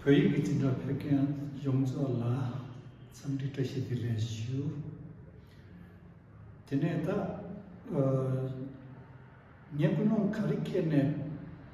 བོད་ཡིག་གི་བྱིན་འབྲ་ཕེབས་མཁན་ཡོངས་རྫོགས་ལ་འཚམས་འདྲི་བཀྲ་ཤིས་བདེ་ལེགས་ཞུ། དེ་ནས་ད། ངས་ཀུན་སློང་ག་རེ་ཁྱེར་ནས།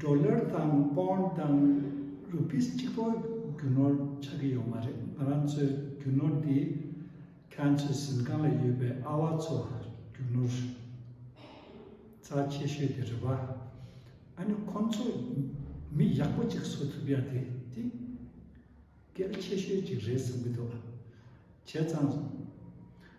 Dollar དང Bond དང Rupees གཅིག་པོ་རྒྱུ་ནོར་ཆགས་ཀྱི་ཡོད་མ་རེད་ང་རང་ཚོའི་རྒྱུ་ནོར་འདི་ཁྱེད་ཚོའི་གཟིམ་ཁང་ལ་ཡོད་པའི་ཨ་བ་ཚོ་རྒྱུ་ནོར་རྩ་ཆེ་ཤོས་དེ་རེད་བ་ཨ་ནི་ཁོང་ཚོ་མི་ཡག་པོ་གཅིག་བཟོ་ཐུབ་ཡ་དེ་དེ་གལ་ཆེ་ཤོས་གཅིག་རེད་བསམ་གྱི་འདུག་བྱས་ཙང།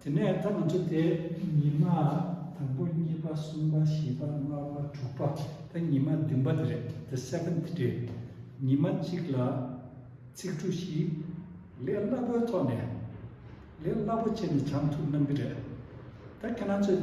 དེ་ནས་ད་ང་ཚོ་དེ་ཉི་མ་དང་པོ་གཉིས་པ་གསུམ་པ་བཞི་པ་ལྔ་པ་དྲུག་པ་ད་ཉི་མ་བདུན་པ་དེ་རེད the seventh day ཉི་མ་གཅིག་ལ་ཚིག་གྲུ་བཞི་ལས་སླ་པོའི་ཐོག་ནས་ལས་སླ་པོ་བྱས་ནས་བྱང་ཐུབ་གནང་གི་རེད་ད་ཁྱེད་རང་ཚོས།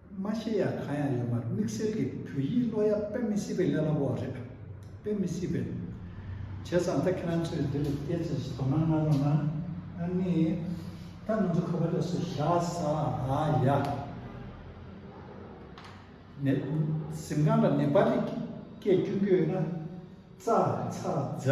མ་ཤེས་ཡ་གང་ཡང་ཡོད་མར་དམིགས་བསལ་གྱི་བོད་ཡིག་ཀློག་ཡ་དཔེ་མི་སྲིད་པའི་ཀླད་པ་པོ་བ་རེད། དཔེ་མི་སྲིད་པའི། བྱས་ཙང་ད་ཁྱེད་རང་ཚོས་འདི་ལ་བལྟས་ཚེ་ཞེས་དོ་སྣང་གནང་རོགས་གནང། ཨ་ནི། ད་ང་ཚོ་ཁ་བ་ལས་སུ་ཞག་ས་ཨ་ཡ། ནས། གཟིམ་ཁང་ལ་ནེ་པ་ལི་སྐད་བསྐྱུར་རྒྱུ་ཡོད་ན། ཙ། ཚ། ཛ།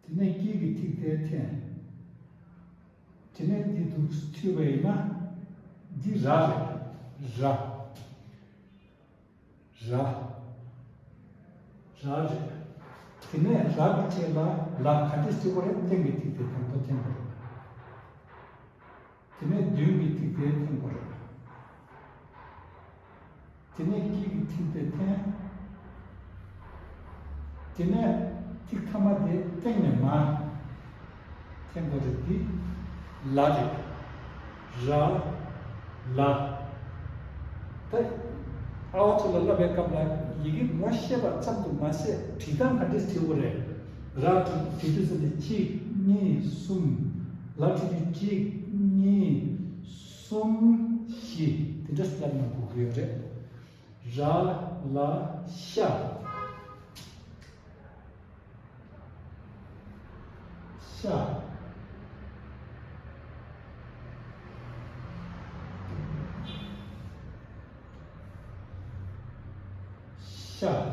དེ་ནས་དཀྱིལ་གྱི་ཐིག་དེ་འཐེན། དེ་ནས་འདི་དུ་ཐུལ་བ་ཡིན་ན། འདི་ར་རེད། ར། ར། ར་རེད། དེ་ནས་ར་གི་ཐད་ལ་ལ་ག་དེ་སྤྱི་བོ་རེད་སྟེང་གི་ཐིག་དེ་དང་པོ་འཐེན་པ་རེད། དེ་ནས་མདུན་གྱི་སྡིག་པའི་མཐིང་བར། དེ་ནས་དཀྱིལ་གྱི་མཐིང་པའི་མཐེན། དེ་ནས་ཐིག་ཐ་མ་དེ་སྟེང་ནས་མ། མཐེན་པོ་རིགས་འདི་ལ་རིགས། ར། ལ། ད། ཨ་བ་ཚོ་ལ་བསླབ་པའི་སྐབས་ལ་ཡི་གེ་ངོ་ཤེས་པ་ཙམ་དུ་མ་ཟད་བྲིས་སྟངས་ག་འདྲས་བྲིས་འོ་རེད། ར་དྲུག་བཅུ་དྲུག་ཙམ་ནས་གཅིག་གཉིས་གསུམ། ལ་དྲུག་ཅུ་གཅིག་གཉིས་གསུམ་བཞི་དེ་འདྲ་སླེབས་ན་འགུག་གི་ཡོད་རེད། ར་ལ་ཤ། ཤ། ཤ།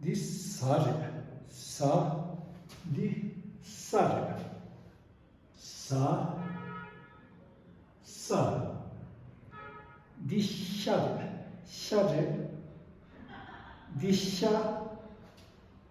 འདི་ཟ་རེད་ཟ། འདི་ས་རེད་ཟ། ས། འདི་ཤ་རེད་ཤ་རེད། འདི་ཤ།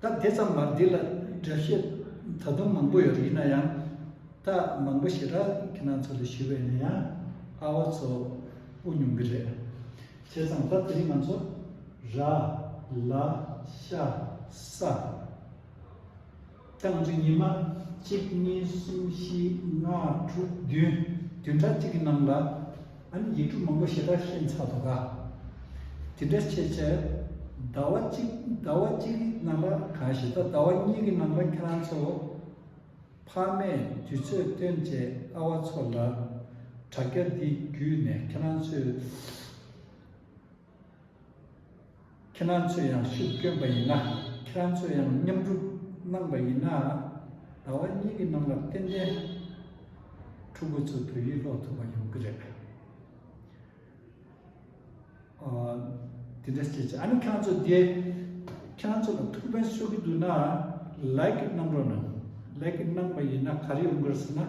ད་དེ་ཙམ་མར་འདི་ལ་དྲི་བཤད་ད་དུང་མང་པོ་ཡོད་ཡིན་ན་ཡང་ད་མང་པོ་ཞེ་དྲག་ཁྱེད་རང་ཚོ་ལ་ཞུས་པ་ཡིན་ན་ཡང་ཨ་བ་ཚོ་དབུགས་ཉུང་གི་རེད། བྱས་ཙང་ད་དེ་རིང་ང་ཚོ་ར། ལ། ཤ། ས། སྟངས་ཀྱི་ཉི་མ། གཅིག་གཉིས་གསུམ་བཞི་ལྔ་དྲུག་བདུན་བདུན་ཕྲག་གཅིག་གི་ནང་ལ། ཨཱ་ནི་ཡིག་འབྲུ་མང་པོ་ཞེ་དྲག་ཤེས་མཚར་དོ་དགའ། དེ་འདྲ་བྱེད་ཕྱིར། ཟླ་བ་གཅིག་ཟླ་བ་གཅིག་གི་ནང་ལ་ག་ཞེ་ད་ཟླ་བ་གཉིས་ཀྱི་ནང་ལ་ཁྱེད་རང་ཚོ། ཕ་མས་དུས་ཚོད་སྟོན་བྱས་ཨ་བ་ཚོ་ལ། དྲ་རྒྱ་འདི་བརྒྱུད་ནས་ཁྱེད་རང་ཚོས། ཁྱེད་རང་ཚོས་ཡང་ཤུགས་བསྐྱོན་པ་ཡིན་ན་ཁྱེད་རང་ཚོས་ཡང་མཉམ་སྒྲུབ་གནང་པ་ཡིན་ན། ཟླ་བ་གཉིས་ཀྱི་ནང་ལ་ཏན་ཏན་ཕྲུ་གུ་ཚོ་བོད་ཡིག་ཀློག་ཐུབ་པ་ཡོང་གི་རེད། དེ་འདྲ་བྱེད་ཅིག་ཨ་ནི་ཁྱེད་རང་ཚོ་དེ་ཁྱེད་རང་ཚོ་ལ་ཐུགས་ཕན་གསོ་གི་འདུག་ན་ལེགས་གནང་རོགས་གནང། ལེགས་གནང་པ་ཡིན་ན་ག་རེ་ཡོང་གི་རེད་ཟེར་ན།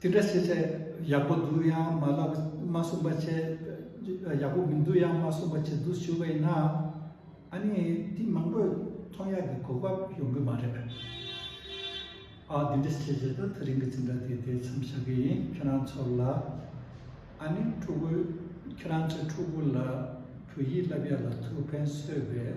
དེ་འདྲ་བྱེད་ཚེ་ཡག་པོ་འདུག་ཡང་མ་ལབ་མ་གསུངས་པ་བྱས། ཡག་པོ་མི་འདུག་ཡང་མ་གསུངས་པ་བྱས་འདུག་ཞུ་བས་ན། ཨ་ནི་དེ་མང་པོས་མཐོང་ཡག་གི་གོ་སྐབས་ཡོང་གི་མ་རེད། ཨ་དེ་འདྲ་བྱས་ཚེ་ད་ཐག་རིང་གི་ཚིག་འདྲ་དེ་དེ་མཚམས་བཞག་གི་ཡིན་ཁྱོད་རང་ཚོར་ལ། ཨ་ནི་ཕྲུ་གུ་ཁྱོད་རང་ཚོའི་ཕྲུ་གུ་ལ་བོད་ཡིག་བསླབ་ཡག་ལ་ཐུགས་ཕན་གསོས་པས།